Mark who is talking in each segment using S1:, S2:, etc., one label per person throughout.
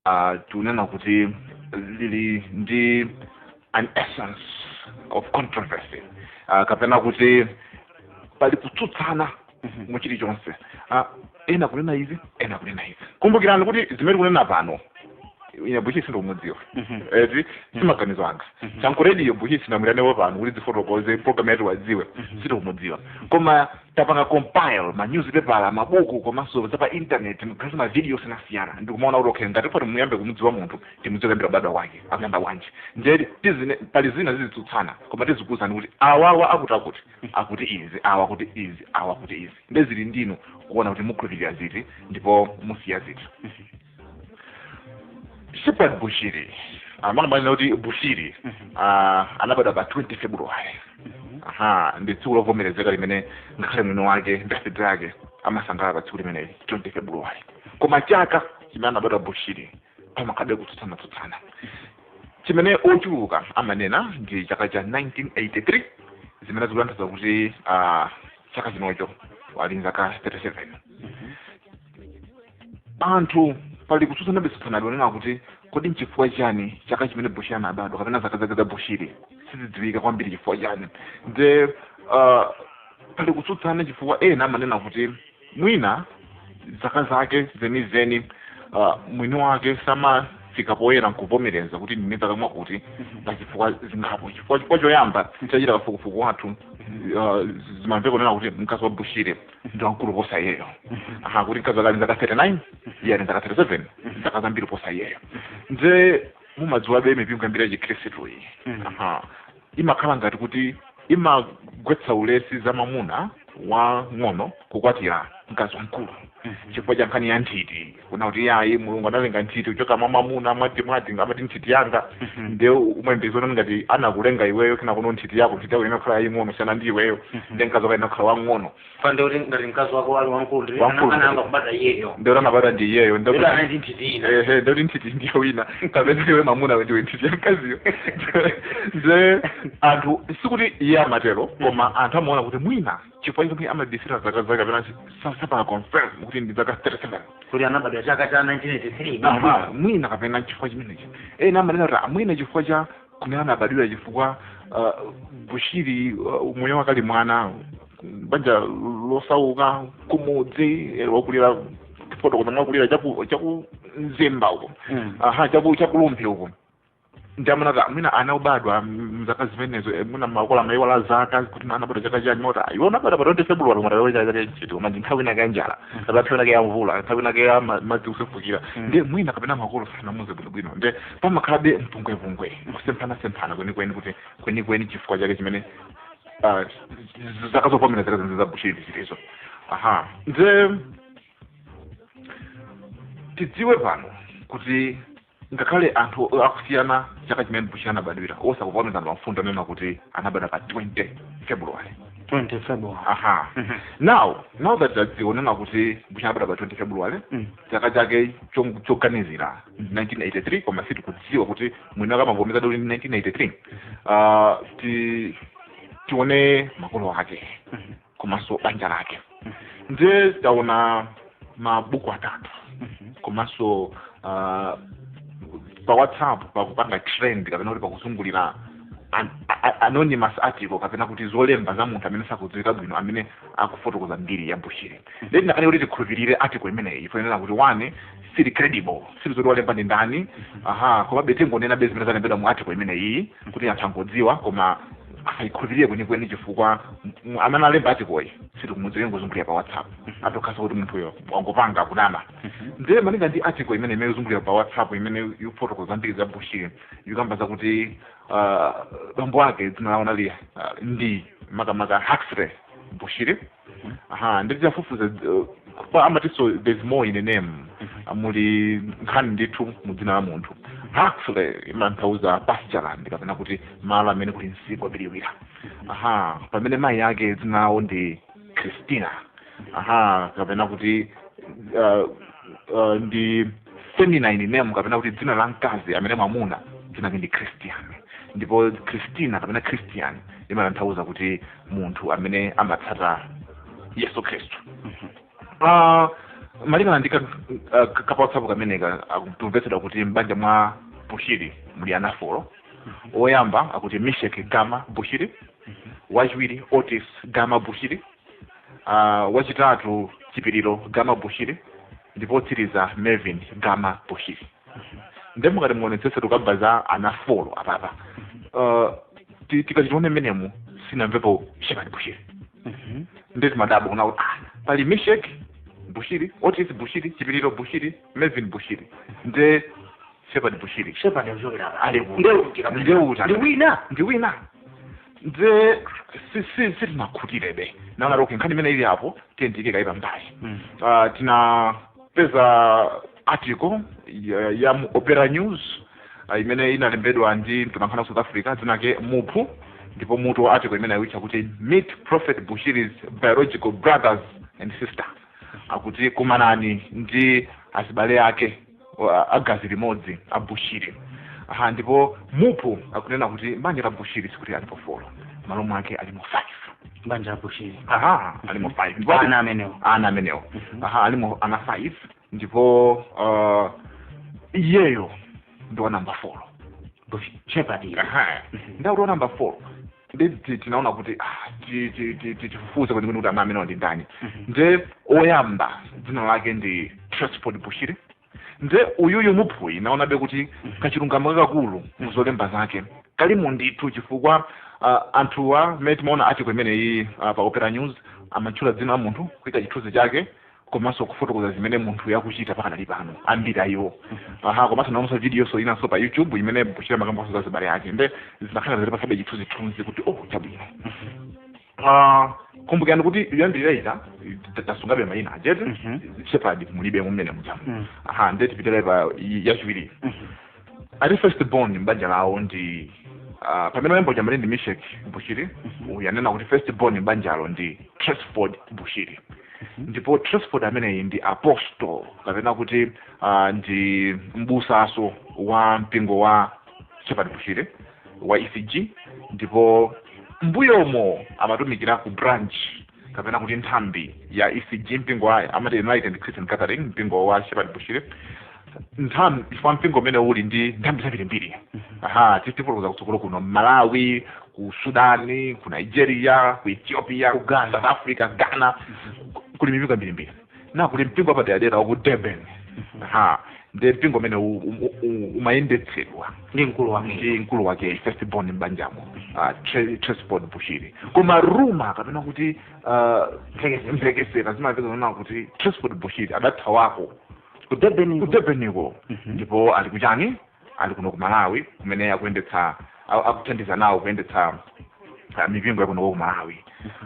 S1: uh, tinena kuti lili ndi an essence of controversy uh, kapena kuti pali kutsutsana Mhm. mu chilichonse uh, ena kunena izi ena kunena izi kumbukirani kuti zimene tikunena pano ine Bushiri sindikumudziwa Mhm. eti simaganizo anga Mhm. chankurediyo Bushiri sindamwilanewo pano kuti dzifotokoze program ya Tiwadziwe Mhm. sindikumudziwa koma tapanga compile ma newspaper mabuku komanso za pa internet mukhazi ma video osiyanasiyana ndikumaona kuti okay ngati poti tiyambe kumudziwa munthu timudziwe kuyambira kubadwa kwake akuyamba bwanji ndiye tizine pali zina zizitsutsana koma tizikuwuzani kuti awawa akuti akuti akuti izi awa akuti izi awa akuti izi ndiye zili ndi inu kuona kuti mukhulupirira ziti ndipo musiya ziti Shepherd Bushiri amene amanena kuti Bushiri ah, anabadwa pa 20 February aha ndi tsiku lovomerezeka limene ngakhale mwini wake birthday yake amasangalala pa tsiku limeneli 20 February koma chaka chimene anabadwa Bushiri pamakhalabe kutsutsana tsutsana chimene ochuluka amanena ndi chaka cha 1983 zimene zikutanthauza kuti ah, chaka chinocho ali zaka 37 anthu pali kutsutsanabe tsutsanabe kunena kuti kodi nchifukwa chani chaka chimene Bushiri anabadwa kapena zaka zake za Bushiri sizidziwika kwambiri chifukwa chani nde uh, pali kutsutsana chifukwa ena amanena kuti mwina zaka zake zenizeni uh, mwini wake samafika poyera nkuvomereza kuti ndili ndi zaka mwakuti pa zifukwa zingapo chifukwa chifukwa choyamba chachita kafukufuku wathu uh, zimamveka kunena kuti mkazi wa Bushiri ndi wamkulu kuposa iyeyo aha kuti mkazi wake ali ndi zaka 39 iye ali ndi zaka 37 zaka zambiri kuposa iyeyo nde mumadziwabe mipingo yambiri yachikhristu iyi aha imakhala ngati kuti imagwetsa ulesi za mamuna wamng'ono kukwatira mkazi wamkulu chifukwa cha nkhani ya nthiti kunena kuti iyayi Mulungu analenga nthiti kuchoka mwa mwamuna mwati mwati amati nthiti yanga Mhm. nde umayembekeza kuti ngati anakulenga iweyo kena kuno nthiti yako nthiti yako ikhala yaying'ono kusiyana ndi iweyo Mhm. nde mkazi wako akhala wang'ono pande kuti ngati
S2: mkazi wako ali wamkulu ndi Wamkulu. ana- anayamba kubadwa iyeyo nde anabadwa ndi
S1: iyeyo nde kuti anali
S2: ndi nthiti ina ehe nde kuti nthiti ndi
S1: ya wina kapena iwe mamunawe ndiwe nthiti yamkaziyo nde anthu sikuti iye amatero koma anthu amaona kuti mwina chifukwa chomwe amabisira zaka zake kapena sapanga confirm kuti ndi zaka 37 kuti anabadwa
S2: chaka cha 1983 Aha, mwina kapena
S1: chifukwa chimenechi ena amanena kuti mwina chifukwa cha kumene anabadwira chifukwa uh, Bushiri uh, moyo wake ali mwana banja losauka kumudzi eh, wakulira fotokoza mwakulira chaku chaku Mzimba uko Mm. aha chaku cha ku Rumphi uko ndiye mwina ana obadwa mzaka zimenezo eh, mwina makolo amayiwala zaka kuti mwana anabadwa chaka chani moti iwo anabadwa pa 20 february mwana wewe chaka chani chiti koma ndi nthawi inake ya njala kapena nthawi inake ya mvula nthawi inake ya ma- madzi kusefukira nde mwina kapena makolo sanamuze bwino bwino nde pamakhalabe mpungwepungwe kusemphana semphana kwenikweni kuti kwenikweni chifukwa chake chimene ah, z- zaka zopomera zaka za bushiri zilizo aha nde tidziwe pano kuti ngakhale anthu akusiyana chaka chimene bushi anabadwira osakuvomereza anthu amfundo nena kuti anabadwa pa 20 february 20 february aha Mhm. now now that taziwona kuti bushi anabadwa pa 20 february Mm. chaka chake cho- choganizira 1983 koma sitikudziwa kuti mwini wake amavomezadi 1983 uh, ti tione makolo ake Mhm. komanso banja lake ndiye taona mabuku atatu komanso uh, pa whatsapp pakupanga trend kapena kuti pakuzungulira an- a- a- anonymous article kapena kuti zolemba za munthu amene sakudziwika bwino amene akufotokoza mbiri ya bushiri nde tinakana kuti tikhulupirire article imeneyi chifukwa chonena kuti one sili credible sitidziwa zoti walemba ndi ndani aha komabe tingonenabe zimene zalembedwa mu article imene iyi kuti anthu angodziwa koma asayikhulupirire kwenikweni chifukwa m- amene alemba article sitikumudziwa ikungozungulira pa whatsapp zitotheka kuti munthuyo wangopanga kunama ndiye malinga ndi article imene imazungulira pa whatsapp imene ikufotokoza za mbiri za bushiri ikukamba zakuti ah, bambo ake dzina lawo linali ah, ndi makamaka huxley bushiri aha nde titafufuza uh, pa amatiso there's more in a name muli nkhani ndithu mu dzina la munthu huxley imatanthauza pastureland kapena kuti malo amene kuli msipu wobiriwira aha pamene mayi ake dzina lawo ndi christina aha kapena kuti uh, uh, ndi feminine name kapena kuti dzina la mkazi amene mwamuna dzina lake ndi christian ndipo christina kapena christian imatanthauza kuti munthu amene amatsata yesu khristu Ah, malingana ndi ka- ah, ka- kapawatsapu kameneka tikumvetsedwa kuti m'banja mwa bushiri muli ana folo woyamba akuti mishek gama bushiri wachiwiri otis gama bushiri ah, wachitatu chipiriro gama bushiri ndipo otsiriza melvin gama bushiri nde mukati muonetsese tukukamba za ana folo apapa uh, ti- tikati tione mmenemu sitinamvepo shepard bushiri Mhm. nde timadabwa kuona kuti ah, pali mishek bushiri otis bushiri chipiliro bushiri melvin bushiri nde shepard bushiri shepard ikuchokera
S2: Ali kuti? ndeuta Ndeuta. ndi
S1: wina ndi wina nde si- si- sitinakhutirebe tinaona kuti nkhani imene ili apo tiyiike kaye pambali Mhm. Ah, tinapeza article ya, ya mu opera news ah, imene inalembedwa ndi mtolankhani wa south africa dzina lake muphu ndipo mutu wa article imene awutcha kuti meet prophet bushiri's biological brothers and sisters akuti kumanani ndi azibale ake wa- agazi limodzi a bushiri aha ndipo muphu akunena kuti mbanja la bushiri sikuti alipo four malo mwake alimo five banja la bushiri
S2: aha alimo five
S1: Ndipo ati- ana amenewo ana amenewo aha alimo ana five ndipo uh, iyeyo ndi wa namba four shepherd
S2: Aha. ndakuti
S1: wa namba four ndi ti- tinaona kuti ah, ti- ti- ti- ti- tifufuze kwenikweni kuti ana amenewa ndi ndani nde oyamba dzina lake ndi trustford bushiri nde uyuyu muphuyi ndaonabe kuti kachilungamo kakakulu muzolemba zake kalimo ndithu chifukwa ah, anthuwa mmene timaona article imeneyi ah, pa opera news amatchula dzina la munthu kuika chithunzi chake komanso kufotokoza zimene munthuyo akuchita pakadali pano ambiri ayiwo aha komanso ndaonanso videonso inanso pa youtube imene bushiri amakambanso za zibale yake nde zinakhala ngati zikutipatsabe chithunzithunzi kuti oh chabwino Ah, kumbukirani kuti kuyambirira ita ta- tasungabe mayina a jt Mhm. shepard mulibe mumene mujamu Mhm. aha nde tipitire pa yachiwiri ati first born m'banja lawo ndi ah, pamene oyamba uja amati ndi misheck bushiri uyu anena kuti first born m'banjalo ndi trustford bushiri ndipo trustford ameneyi ndi apostle kapena kuti ah, ndi mbusanso wa mpingo wa shepherd bushiri wa ecg ndipo mbuyomo amatumikira ku branch kapena kuti nthambi ya ecg mpingo wa amati enlightened christian gathering mpingo wa shepherd bushiri nthambi chifukwa mpingo umenewu uli ndi nthambi zambirimbiri aha tifotokoza kutsogolo kuno malawi ku sudani ku nigeria ku ethiopia Ghana. south africa ghana kuli mipingo yambirimbiri na kuli mpingo wapaderadera waku durban ha nde mpingo umene u- u- u- umayendetsedwa ndi mkulu
S2: wake ndi mkulu wake first
S1: born mbanjamo trustford bushiri koma rumor kapena kuti ah, Mphekesera. mphekesera zimamveka zonena kuti trustford bushiri adathawako ku durban ku durbaniko ndipo ali kuchani ali kuno ku malawi kumene akuyendetsa a- akuthandiza nawo kuyendetsa ah, mipingo yakunoko ku malawi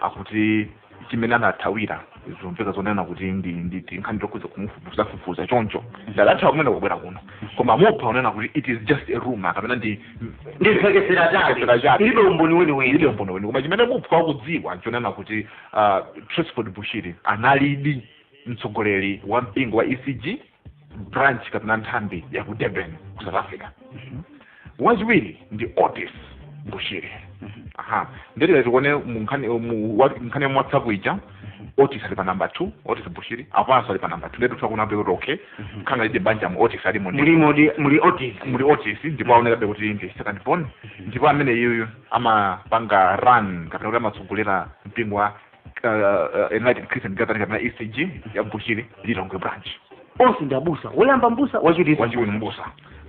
S1: akuti chimene anathawira zomveka zonena kuti ndi ndi tinkhani tokhudza kumufufuza fufuza choncho nde adathawa kumeneko kubwera kuno koma muphu akunena kuti it is just a rumor kapena ndi
S2: ndimphekesera Ndimphekesera chabe. chabe ilibe umboni ilibe umboni umboni weniweni koma chimene muphu
S1: akudziwa nchonena kuti ah, Trustford bushiri analidi mtsogoleri wa mpingo wa ecg branch kapena nthambi ya ku durban ku south africa wachiwiri ndi otis bushiri aha nde tikati tione mu nkhani mu wa- nkhani ya whatsapp ija otis ali pa namba two otis bushiri apanso ali pa namba two nde titha kuona kuti okay khanga lide banjamu otis alimo ndi muli muli muli
S2: otis muli otis ndipo aonekabe kuti
S1: ndi second born ndipo amene iyeyo amapanga run kapena kuti amatsogolera mpingo wa uh, enlightened christian gathering kapena ecg ya bushiri lilongwe branch onse ndi
S2: abusa woyamba mbusa wachiwiri wachiwiri mbusa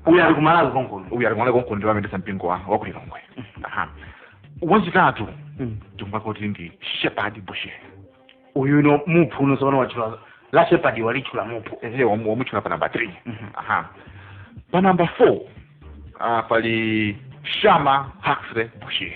S1: uyu ali kumalawi
S2: konkuno uyu alimwana konkuno ndi amayendetsa mpingo wa
S1: wa ku lilongwe Aha. wachitatu Mm. tikumva kuti ndi shepherd bushiri uyu
S2: no muphu uno sopano watchula la shepadi walitchula muphu ehe wamu- wamutchula pa namba 3
S1: aha pa namba 4 uh, pali shama huxley bushiri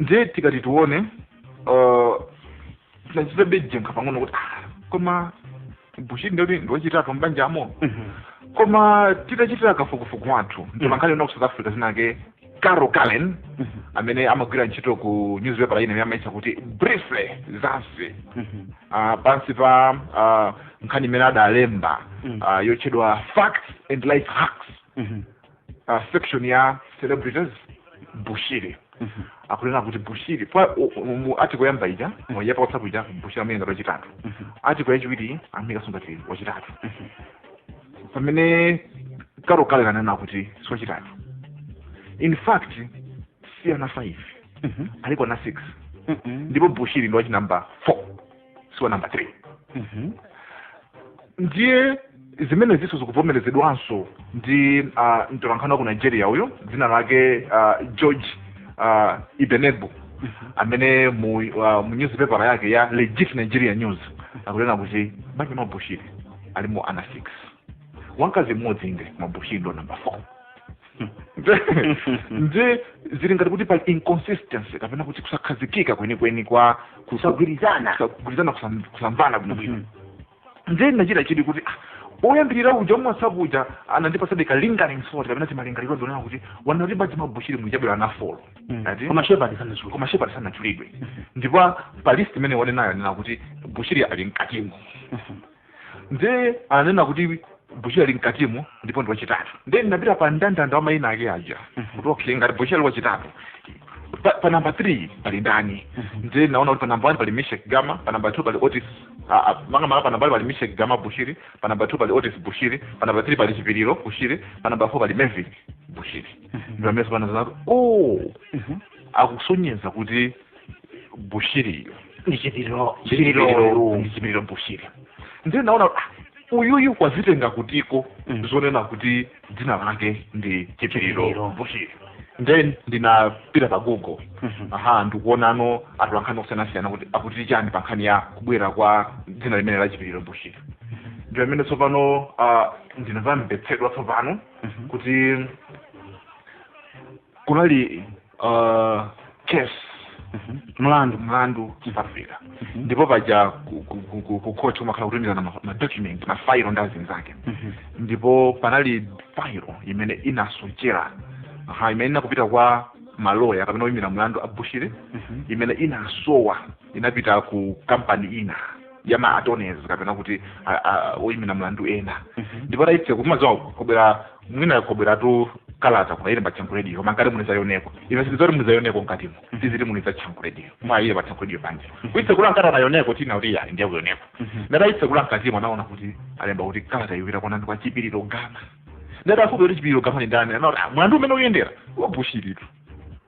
S1: ndiye tikati tione uh, tinachitabe jenkha pang'ono kuti ah, koma bushiri ndikuti ndiwachitatu mbanjamo koma titachitira kafukufuku wathu mtolankhani wina ku south africa dzina lake carol karen amene amagwira ntchito ku newspaper ina imene amayitcha kuti briefly mzansi uh, pansi pa uh, nkhani imene adalemba uh, yotchedwa facts and life hacks uh, section ya celebrities bushiri akunena kuti bushiri pa u- u- mu article yoyamba ija mu yapa whatsapp ija bushiri amuika ngati wachitatu article yachiwiri amuikanso ngati wachitatu pamene carol karen akunena kuti siwachitatu in fact si ana 5 aliko ana 6 ndipo bushiri ndi wachinamba 4 siwa namba 3 Mhm. ndiye zimenezinso zikuvomerezedwanso ndi uh, mtolankhani wa ku nigeria uyo dzina lake uh, george uh, ibenegbu amene mu, uh, mu newspaper yake ya legit nigeria news akunena kuti m'banja mwa bushiri alimo ana 6 wamkazi mmodzi inde mabushiri ndo namba 4 nde zili ngati kuti pali inconsistency kapena kuti kusakhazikika kwenikweni kwa kusa- kusagwirizana
S2: kusagwirizana kusam-
S1: kusamvana bwinobwino Mhm. nde ndinachita chidwi kuti ah, oyambirira uja wa mu whatsapp uja anandipatsadi ka lingering thought kapena timalingaliro ndionena kuti wanati m'banja mwa bushiri muja mwabwera ana 4 Mm. Ati? koma shepherd sanatchula koma shepherd sanatchulidwe ndipo pa list imene wanenayo anena kuti bushiri ali mkatimo ndiye ananena kuti bushiri ali mkatimo ndipo ndi wachitatu ndiye ndinapita pa mndandanda wa mayina ake aja kuti okay ngati bushiri ali wachitatu pa, pa namba 3 pali ndani ndiye naona kuti pa namba 1 pali misheck gama pa namba 2 pali otis ah, ah, manga manga pa namba 1 pali misheck gama bushiri pa namba 2 pali otis bushiri pa namba 3 pali chipiliro bushiri pa namba 4 pali melvin bushiri ndamesa panazanatu oh akusonyeza kuti bushiri ndi
S2: chipiriro chipiriro ndi chipiriro bushiri
S1: ndiye ndinaona ah, uyuyu wazitenga kutiko Mm. zonena kuti dzina lake ndi chipiriro Chipiriro. bushiri then ndinapita pa google Mhm. aha ndikuona atolankhani osiyanasiyana kuti akuti chani pa nkhani ya kubwera kwa dzina limene la chipiriro bushiri ndi pamene tsopano ah, ndinamvetsedwa tsopano Mhm. kuti kunali uh, case Mhm. mlandu mlandu south africa Mhm. ndipo paja ku- ku- ku- ku- ku court kumakhala kutumizana ma- ma document ma file ndi zinazake Mhm. ndipo panali file imene inasochera ha imene inkapita kwa maloya kapena oyimira mlandu a bushiri Mhm. imene inasowa inapita ku kampani ina ya ma attorneys kapena kuti a- a- oyimira mlandu ena Mhm. ndipo laitse kumadziwa kubera mwina kubweratu kalata koma ili patsango radio koma ngati muli zayoneko ife sitizoti muli zayoneko mkatimo tiziti muli zatsango radio mwa ile patsango radio banje kuitsekula nkata nayoneko tina kuti yali ndiye kuyoneko ndata itsekula mkatimo anaona kuti alemba kuti kalata ikupita kwa ndani kwa chipiriro gama atafunsa kuti chipiriro gama ndi ndani anaona "Ah, mlandu umene ukuyendera wabushiritu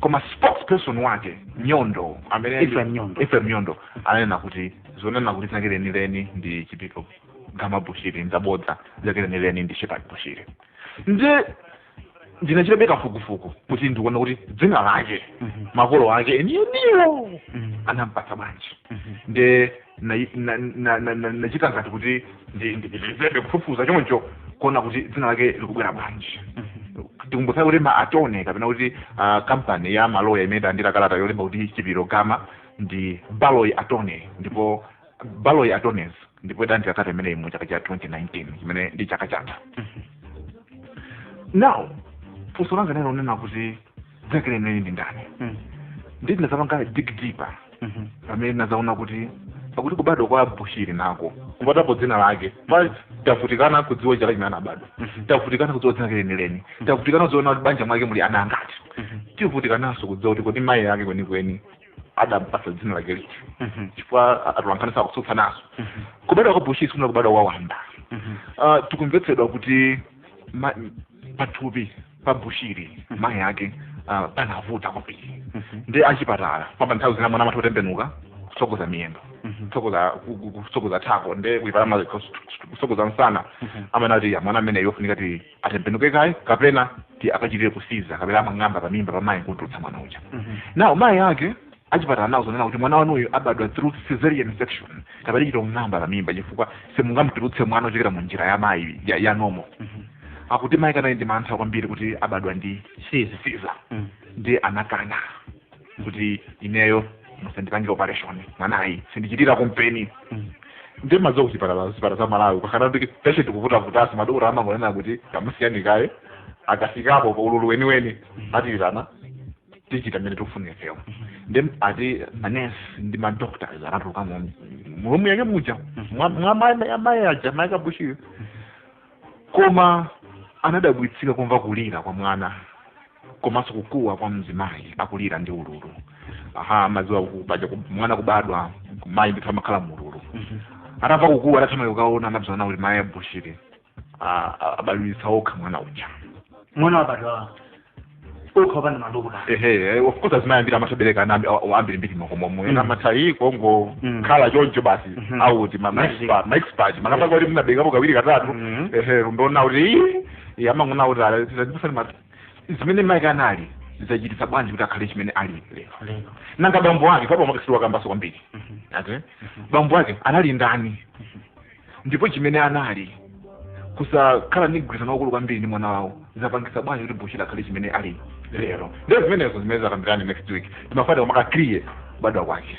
S1: koma spokesperson wake nyondo amene Ephraim Nyondo. Ephraim nyondo ananena kuti zonena kuti dzina lake lenileni ndi chipiriro gama bushiri nzabodza dzina lake lenileni ndi shepherd bushiri nde ndinachitabe kafukufuku kuti ndione kuti dzina lake Mhm. makolo ake enieniwo Mhm. anampatsa bwanji Mhm. nde ndinachita ngati kuti ndipitirizebe kufufuza choncho kuona kuti dzina lake likubwera bwanji ndikumbutse kuti ma attorney kapena kuti ah, kampani ya maloya imene idalandira kalata yolemba kuti chipiriro gama ndi baloyi attorneys ndipo baloyi attorneys ndipo idalandira kalata imeneyi mu chaka cha 2019 chimene ndi chaka chatha now funso langa ndilonena kuti dzina lake lenileni ndi ndani Mm. ndiye tinazapanga dig deeper Mhm. pamene tinazaona kuti pakuti kubadwa kwa bushiri nako kupatapo dzina lake ma tavutikana kudziwa chaka chimene anabadwa Mhm. tavutikana kudziwa dzina lake lenileni tavutikana kudziwa kuti m'banja mwake muli ana angati Mhm. tavutikananso kudziwa kuti kodi mayi ake kwenikweni adampatsa dzina lake liti Mhm. chifukwa atolankhaniso akutsutsananso Mhm. kubadwa kwa bushiri sikunali kubadwa kwa wamba Mhm. Ah, tikumvetsedwa kuti ma- pathupi pa bushiri mayi ake ah, panavuta kwambiri ndi achipatala pamba nthawi zina mwana amatha kutembenuka kutsogoza miyendo kutsogoza ku- ku- kutsogoza thako nde kuchipatala amati kutsogoza msana amanena kuti mwana ameneyo afunika kuti atembenuke kaye kapena kuti akachitire siza kapena amang'amba pamimba pamayi nkutulutsa mwana uja nawo mayi ake Achipatala anawauza zonena kuti mwana wanuyu abadwa through cesarean section kapena kuchita kung'amba pa mimba chifukwa simungamutulutse mwana kuchokera mu njira ya mayi ya, ya normal Mhm. akuti mayi ake anali ndi mantha kwambiri kuti abadwa ndi Siza. siza Mm. ndi anakana kuti ineyo musandipange operation mwanayu sindichitira kumpeni Mm. ndiye mumadziwa kuchipatala zipatala za malawi pakakhala kuti patient akuvutavuta madokotala amangonena kuti kamusiyani kaye akafikapo pa ululu weniweni atiitana tichita mmene tikufunira ifeyo ndiye ati manesi ndi madoctors anatuluka mu room yake muja mwa mwa mai- amayi aja mayi ake a Bushiri koma anadabwitsika kumva kulira kwa mwana komanso kukuwa kwa mzimayi akulira ndi ululu aha mumadziwa kuti paja ku- mwana kubadwa mayi ndithu amakhala mu ululu atamva kukuwa adathamanga kukaona anapeza kuti mayi a Bushiri a- a- abadwitsa okha mwana uja mwana
S2: wabadwa okha opanda madokotala ehe of course azimayi
S1: ambiri amatha kubereka ana ambiri mbiri m'makomomo Mm. ena amatha kungo Mm. khala choncho basi Mhm. akuti ma- ma Magic. expert- ma expert makamaka kuti munaberekapo kawiri katatu Mhm. ehe ndimaona kuti "Ii, iye amangoona kuti ala zipasani ma zimene mayi ake anali zachititsa bwanji kuti akhale chimene ali lero lero nanga bambo ake sindinawakambenso kwambiri Mhm. ati bambo ake anali ndani ndipo chimene anali kusakhala ndi mgwirizano waukulu kwambiri ndi mwana wawo zapangisa bwanji kuti Bushiri akhale chimene ali lero ndiye zimenezo zimene tidzakambirane next week timafuna kumaker clear kubadwa kwake